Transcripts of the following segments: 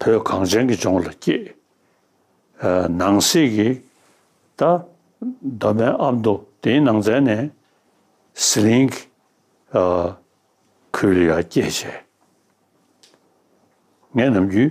བོད་གངས་ཅན་གྱི་ལྗོངས་ལ་སྐྱེས། ནང་གསེས་ཀྱི་ད་གདོད་མའི་ཨ་མདོ་དེའི་ནང་ཚན་ནས་ཟི་ལིང་གི་ཁུལ་ལ་སྐྱེས་བྱས། ངས་ནམ་རྒྱུན་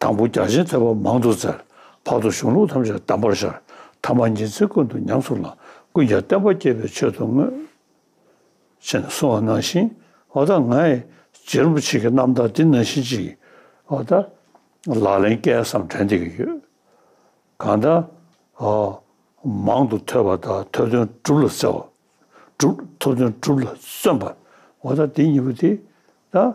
དང་པོ་བརྒྱ་བྱིན་ཐེག་པ་མང་དུ་བཙལ། བར་དུ་གཞུང་ལུགས་ཐམས་ཅད་དམ་པར་ཤར། ཐ་མ་ཉི་ཚེ་ཀུན་ཏུ་ཉམས་སུ་བླངས། ཀུན་ཀྱང་བསྟན་པ་བསྐྱེད་པའི་ཆོས་དུ་མངོན། ཅེས་གསུང་བ་ནང་བཞིན། འོ་ད་ང་ཡི། རྗེ་རིན་པོ་ཆེ་གི་རྣམ་ཐར་འདི་ན་བཞིན་གཅིག། འོ་ད། ལག་ལེན་སྐལ་བཟང་དྲན་བདེ་གི་ཡོད། གང་ལྟར། ཧོ། མང་དུ་ཐོས་པ་དག་ཐོས་དོན་སྒྲུབ་ལ་བརྩེ་བ། སྒྲུབ། ཐོས་དོན་སྒྲུབ་ལ་བརྩོན་པ། འོ་ད་འདི་གཉིས་པོ་དེ། ད།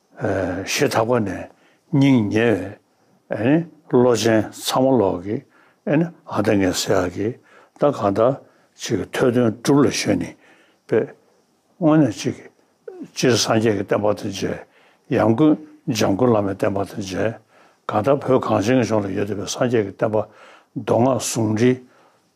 ཞེ་ཐག་པ་ནས་སྙིང་ཉེ་བའི་བློ་ཅན་ཚང་མ་ལོག་གི་ཨ་ད་ངས་ཟེར་ཡག་གི་ད་གང་ལྟར་ཅིག་གི་ཐོས་དོན་སྒྲུབ་ལ་ཞོན་ནི་པས་དངོས་གནས་ཅིག་གི་སྤྱིར་སངས་རྒྱས་ཀྱི་བསྟན་པ་དང་མཇལ་ཡང་ཀུན་འཇམ་སྐུ་བླ་མའི་བསྟན་པ་དང་མཇལ་གང་ལྟར་བོད་གངས་ཅན་གྱི་ལྗོངས་ལ་ཡོད་བསྡད་པའི་སངས་རྒྱས་ཀྱི་བསྟན་པ་མདོ་སྔགས་ཟུང་འབྲེལ